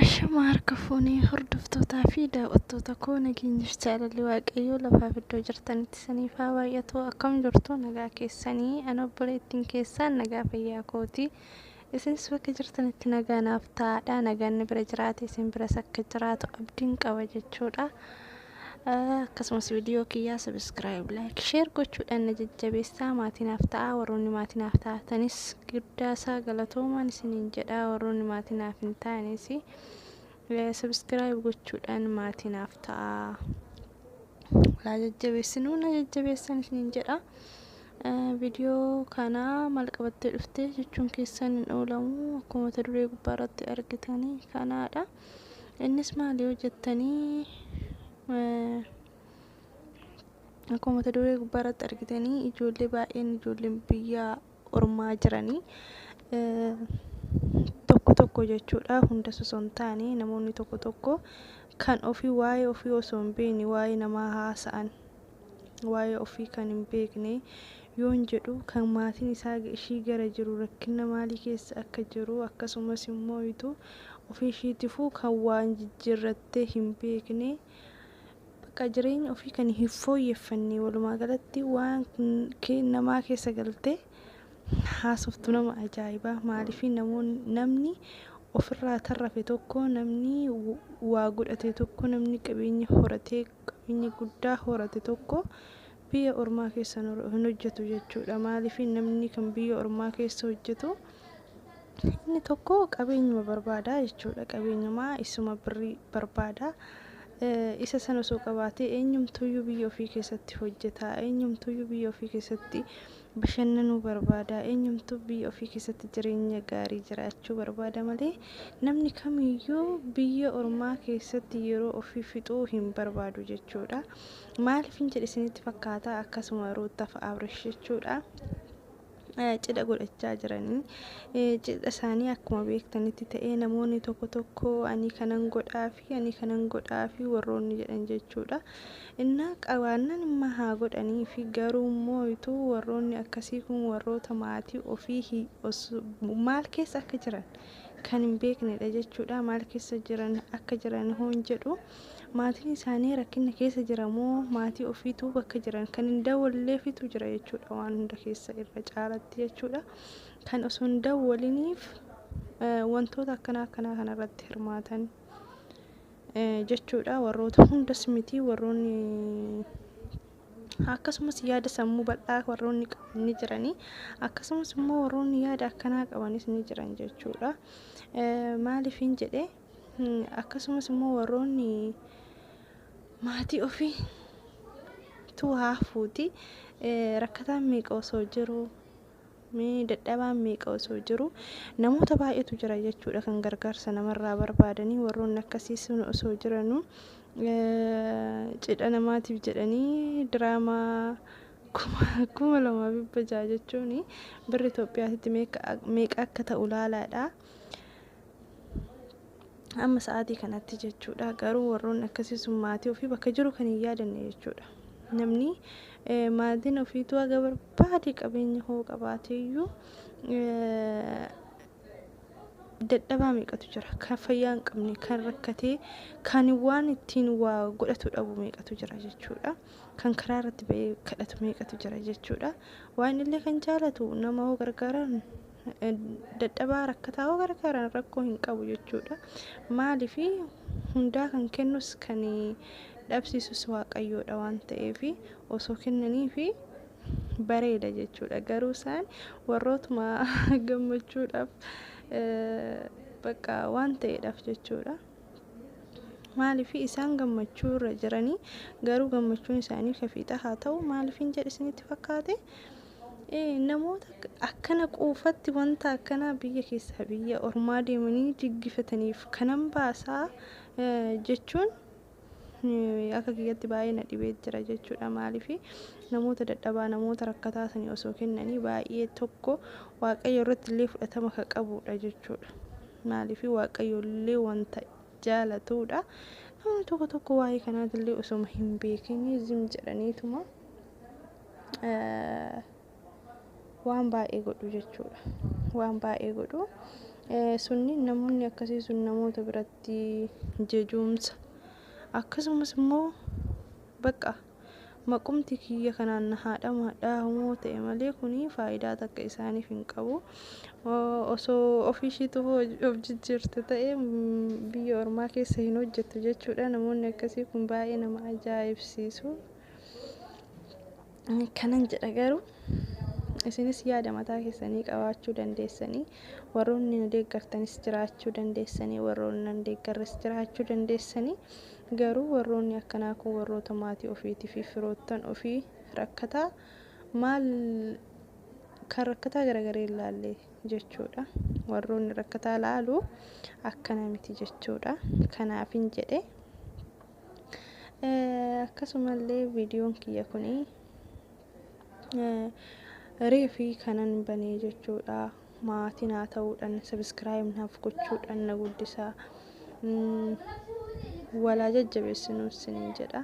Ashama harka fuunee hordoftootaa fi daawwattoota koo nageenyif jaalalli waaqayyoo lafaaf iddoo jirtanitti saniif haa baay'atu akkam jirtu nagaa keessanii an obboleettiin keessaan nagaa fayyaa kooti isinis bakka jirtanitti nagaa naaf ta'aadha nagaan bira jiraate isin biras akka jiraatu abdiin qaba jechuudha. Akkasumas viidiyoo kiyyaa subscribe, like, share gochuudhaan na jajjabeessaa maatii naaf ta'aa warroonni maatii naaf taatanis guddaa isaa galatoomaan isiniin jedhaa warroonni maatii naaf hin taanes subscribe gochuudhaan maatii naaf ta'aa laa jajjabeessinuu na jajjabeessan isiniin jedhaa. viidiyoo kana maal qabattee dhufte jechuun keessan hin oolamu akkuma mata duree gubbaa irratti argitanii kanaadha. Innis maali yoo jettanii akkuma mata duree gubbaa irratti argitanii ijoollee baay'een ijoolleen biyya ormaa jiranii tokko tokko jechuudha hunda osoo hin taane namoonni tokko tokko kan ofii waa'ee ofii osoo hin beekne waa'ee namaa haasa'an waa'ee ofii kan hin beekne yoon jedhu kan maatiin isaa ishii gara jiru rakkinna maalii keessa akka jiru akkasumas immoo ituu ofii ishiitifuu kan waa hin jijjiirrattee hin beekne bakka jireenya ofii kan hin fooyyeffanne walumaa galatti waan namaa keessa galtee haasoftu nama ajaa'ibaa maaliifii namoonni namni ofirraa tarrafe tokko namni waa godhate tokko namni qabeenya horatee qabeenya guddaa horate tokko biyya ormaa keessa hin hojjetu jechuudha. Maaliif namni kan biyya ormaa keessa hojjetu inni tokko qabeenyuma barbaada jechuudha. Qabeenyuma isuma birrii barbaada. Isa sana osoo qabaatee eenyumtuyyuu biyya ofii keessatti hojjeta. Eenyumtuyyuu biyya ofii keessatti bashannanuu barbaada. Eenyumtuu biyya ofii keessatti jireenya gaarii jiraachuu barbaada malee namni kamiyyuu biyya ormaa keessatti yeroo ofii fixuu hin barbaadu jechuudha. Maaliifin jedhe isinitti fakkaata akkasuma ruuttaaf abrish jechuudha. cidha godhachaa jiranii cidha isaanii akkuma beektanitti ta'ee namoonni tokko tokko ani kanan godhaaf fi ani kanan godhaafi warroonni jedhan jechuudha. Innaa qabaannan imma haa godhaniifi garuu mooytu warroonni akkasii kun warroota maatii ofii hi os maal keessa akka jiran kan hin beeknedha jechuudha. Maal keessa jiran akka jiran hoon jedhu maatiin isaanii rakkinna keessa jira moo maatii ofiitu bakka jiran kan hin dawalleefitu jira jechuudha waan hunda keessa irra caalatti jechuudha. kan osoo hin dawwaliniif wantoota akkanaa akkanaa kanarratti hirmaatan jechuudha. Warroota hundas miti warroonni akkasumas yaada sammuu bal'aa warroonni qaban ni jiranii akkasumas immoo warroonni yaada akkanaa qabanis ni jiran jechuudha. Maaliifin jedhee akkasumas immoo warroonni maatii ofii tu haafuuti rakkataan meeqa osoo jiru Mee dadhabaan meeqa osoo jiruu namoota baay'eetu jira jechuudha kan gargaarsa namarraa barbaadanii warroonni akkasii sun osoo jiranuu cidha namaatiif jedhanii diraamaa kuma lamaa fi dhibba ja'a jechuun birri Itoophiyaatitti meeqa akka ta'u laalaadha. Amma sa'aatii kanatti jechuudha. Garuu warroonni akkasii sun maatii ofii bakka jiru kan hin yaadanne jechuudha. Namni maatiin ofiitu haga barbaade qabeenya hoo qabaateeyyuu dadhabaa meeqatu jira. Kan fayyaa hin qabne, kan rakkatee, kan waan ittiin waa godhatu dhabu meeqatu jira jechuudha. Kan karaa irratti ba'ee kadhatu meeqatu jira jechuudha. Waan illee kan jaalatu nama hoo gargaaraan dadhabaa rakkataa yoo gargaaran rakkoo hin qabu jechuudha. Maaliif hundaa kan kennus kan dhabsiisus waaqayyoodha waan ta'eef osoo kennaniif bareeda jechuudha. Garuu isaan warrootuma gammachuudhaaf bakka waan ta'eedhaaf jechuudha. Maaliif isaan gammachuu irra jiranii garuu gammachuun isaanii kafiixa haa ta'u maaliif hin jedhe isinitti fakkaate? namoota akkana quufatti wanta akkanaa biyya keessaa biyya ormaa deemanii jiggifataniif kanan baasaa jechuun akka kiyyatti baay'ee na dhibee jira jechuudha maaliif namoota dadhabaa namoota rakkataa sanii osoo kennanii baay'ee tokko waaqayyo irratti illee fudhatama kan qabudha jechuudha maaliif waaqayyo illee wanta jaalatudha namni tokko tokko waa'ee kanaatillee osoma hin beekin zim jedhaniituma waan baay'ee godhu jechuudha. Waan baay'ee godhu. Sunni namoonni akkasii sun namoota biratti jejuumsa akkasumas immoo baqa maqumti kiyya kanaan na haadhamu hadhaahumoo ta'e malee kuni faayidaa takka isaaniif hin qabu. Osoo ofii ishiitu of jijjiirte ta'e biyya ormaa keessa hin hojjettu jechuudha. Namoonni akkasii kun baay'ee nama ajaa'ibsiisu. Kanan jedha garuu isinis yaada mataa keessanii qabaachuu dandeessanii warroonni na deeggartanis jiraachuu dandeessanii warroonni nan deeggarres jiraachuu dandeessanii garuu warroonni akkanaa kun warroota maatii ofiitii fi firoottan ofii rakkataa maal kan rakkataa garagaree hin laalle jechuudha warroonni rakkataa laalu akkana miti jechuudha kanaafin jedhe akkasumallee viidiyoon kiyya kun reefi kanan banee jechuudha maatii naa ta'uudhaan sabiskiraayib naaf gochuudhaan na guddisaa walaa jajjabeessinuu isiniin jedha.